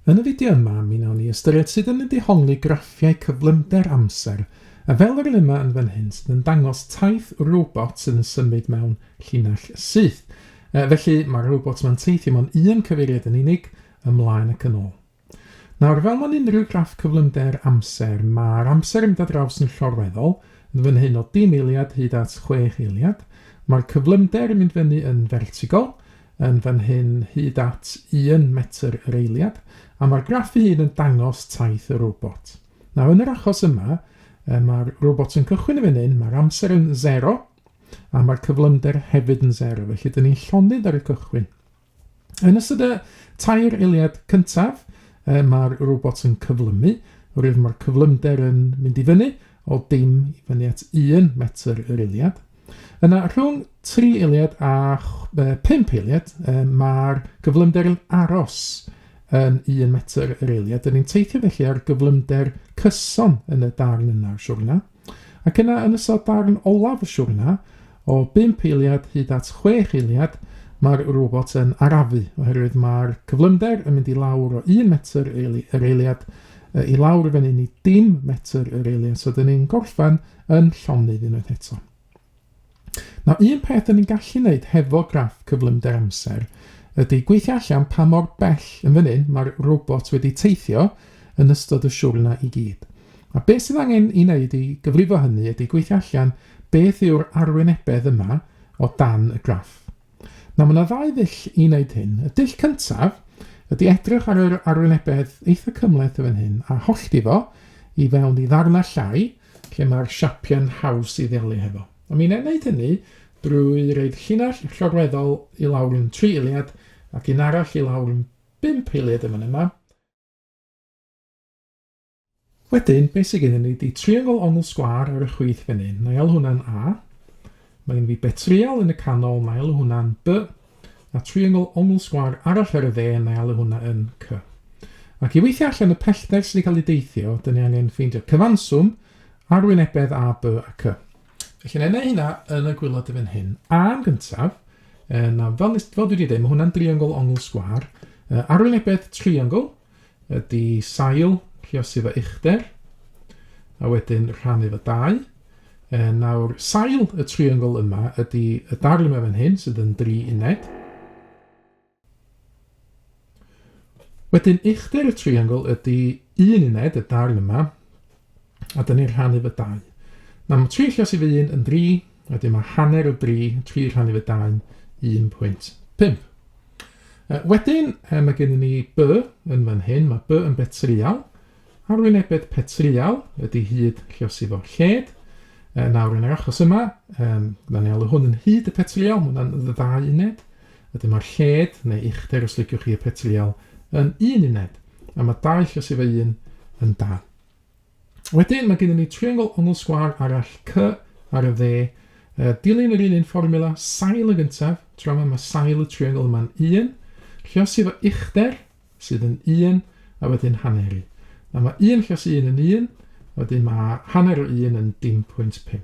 Yn y fideo yma, mi wnawn ni ystyried sut yn y dehongli graffiau cyflymder amser, a fel yr un yma yn fan hyn, sydd yn dangos taith robot sydd yn symud mewn llinell syth. E, felly, mae'r robot yma'n teithio mewn un cyfeiriad yn unig, ymlaen ac yn ôl. Nawr, fel mewn unrhyw graff cyflymder amser, mae'r amser yn mynd â draws yn llorweddol, yn fan hyn o dim eiliad hyd at chwech eiliad. Mae'r cyflymder yn mynd fyny yn fertigol, yn fan hyn hyd at un metr yr eiliad, a mae'r graff ei hun yn dangos taith y robot. Nawr, yn yr achos yma, mae'r robot yn cychwyn yn fan hyn, mae'r amser yn 0, a mae'r cyflymder hefyd yn 0, felly dyn ni'n llonydd ar y cychwyn. Yn ystod y tair eiliad cyntaf, e, mae'r robot yn cyflymu, oherwydd mae'r cyflymder yn mynd i fyny o dim i fyny at 1 metr yr eiliad. Yna, rhwng tri eiliad a pump eiliad, mae'r gyflymder yn aros yn un metr yr eiliad. Dyn ni'n teithio felly ar gyflymder cyson yn y darn yna o'r siwrna. Ac yna, yn ystod darn olaf y siwrna, o bump eiliad hyd at chwech eiliad, mae'r robot yn arafu, oherwydd mae'r cyflymder yn mynd i lawr o un metr yr eiliad i lawr fan hyn i dim metr yr eiliad. So, dyn ni'n gorffen yn llonydd unwaith eto. Nawr, un peth dyn ni'n gallu wneud hefo graff cyflymder amser ydy gweithio allan pa mor bell yn fan hyn mae'r robot wedi teithio yn ystod y siwrna i gyd. A beth sydd angen i wneud i gyfrifo hynny ydy gweithio allan beth yw'r arwynebedd yma o dan y graff. Nawr, mae yna ddau ddull i wneud hyn. Y dull cyntaf ydy edrych ar yr arwynebedd eitha cymhleth yn fan hyn a hollti fo i fewn i ddarnau llai lle mae'r siapiau'n haws i ddealu hefo. A mi wna i wneud hynny drwy reid llinell llorweddol i lawr yn tri eiliad ac un arall i lawr yn bump eiliad yn fan yma. Wedyn, beth sydd gennym ni ydy triongl ongl sgwâr ar y chwith fan hyn. Na i alw hwnna'n A. Mae gen fi betrial yn y canol, na i alw hwnna'n B. A triongl ongl sgwâr arall ar y dde, na i alw hwnna yn C. Ac i weithio allan y pellter sydd wedi cael ei deithio, dyn ni angen ffeindio cyfanswm arwynebedd A, B a C. Felly, na i wneud hynna yn y gwylod fan hyn. A yn gyntaf, na, fel, fel dwi wedi dweud, mae hwnna'n driongl ongl sgwâr. Arwynebedd triongl, ydy sail, lluosi fy uchder, a wedyn rhannu fy dau. E, nawr, sail y triongl yma ydy y darn yma fan hyn, sydd yn dri uned. Wedyn uchder y triongl ydy un uned, y darn yma, a dyn ni'n rhannu fy dau. Mae tri lles i fy un yn dri, a dim mae hanner o dri, tri rhannu fy dau'n 1.5. Uh, wedyn, uh, mae gennym ni by yn fan hyn, mae by yn betrial, arwynebedd petrial ydy hyd llios i fo lled. Uh, nawr yn yr achos yma, um, da ni alw hwn yn hyd y petrial, mae hwnna'n ddau uned. Ydy mae'r lled, neu uchder os liciwch chi y petrial, yn un uned. A mae dau llios i fy un yn dau. Wedyn mae gennym ni triongl ongl sgwâr arall, cy, ar y dde. Uh, dilyn yr un un fformula, sail yn gyntaf, tro yma mae sail y triongl yma'n 1, llosi fo uchder, sydd yn 1, a wedyn hanneru. Na mae 1 llosi 1 yn 1, wedyn mae hanner o 1 yn dim pwynt 5.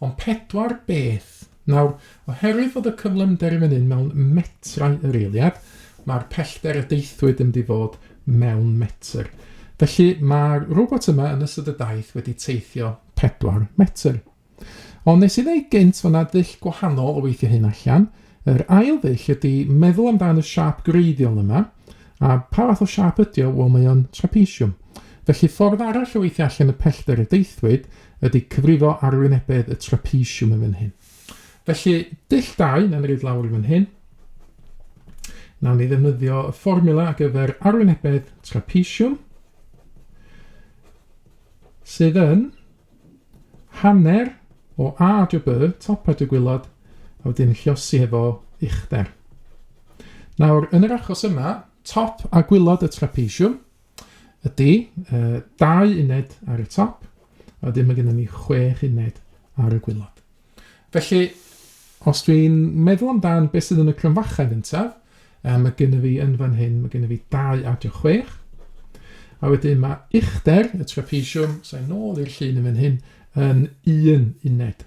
Ond pedwar beth. Nawr, oherwydd fod y cyflymder yn fan hyn mewn metrau yr eiliad, mae'r pellter y deithwyd yn mynd i fod mewn metr. Felly mae'r robot yma yn ystod y daith wedi teithio pedwar metr. Ond nes i ddweud gynt fod yna ddull gwahanol o weithio hyn allan. Yr ail ddull ydy meddwl amdan y siap greiddiol yma, a pa fath o siap ydy o? Wel, mae o'n trapesiwm. Felly ffordd arall o weithio allan y pellter y deithwyd ydy cyfrifo arwynebedd y trapesiwm yn fan hyn. Felly, dull dau, na'n rhaid lawr i fan hyn. Nawn ni ddefnyddio y fformula ar gyfer arwynebedd trapesiwm sydd yn hanner o A dro B, top a dro gwylod, a wedyn llosi hefo uchder. Nawr, yn yr achos yma, top a gwylod y trapesiwm, Ydy, uh, dau uned ar y top, a dim mae gennym ni chwech uned ar y gwylod. Felly, os dwi'n meddwl amdan beth sydd yn y cronfachau gyntaf, um, mae gennym fi yn fan hyn, mae gennym fi dau adio chwech, a wedyn mae uchder y trapesiwm, sa'n nôl i'r llun yn fan hyn, yn un uned.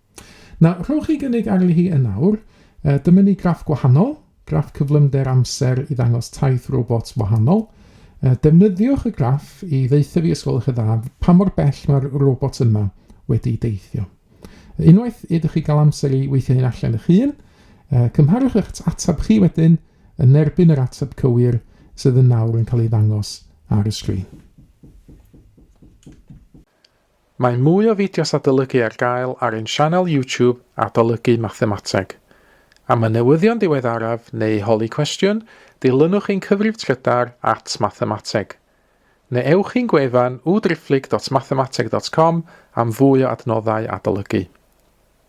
Na, rhowch chi gynnig arni hi yn awr. Uh, dyma ni graff gwahanol, graff cyflymder amser i ddangos taith robot wahanol. Uh, defnyddiwch y graff i ddeitha fi ysgol eich dda pa mor bell mae'r robot yma wedi deithio. Unwaith ydych chi gael amser i weithio hyn allan eich hun, uh, cymharwch eich ateb chi wedyn yn erbyn yr ateb cywir sydd yn nawr yn cael ei ddangos ar y sgrin. Mae mwy o fideos adolygu ar gael ar ein sianel YouTube Adolygu Mathemateg. Am y newyddion diweddaraf neu holi cwestiwn, dilynwch ein cyfrif trydar at Mathemateg. Neu ewch i'n gwefan www.driphlyg.mathemateg.com am fwy o adnoddau adolygu.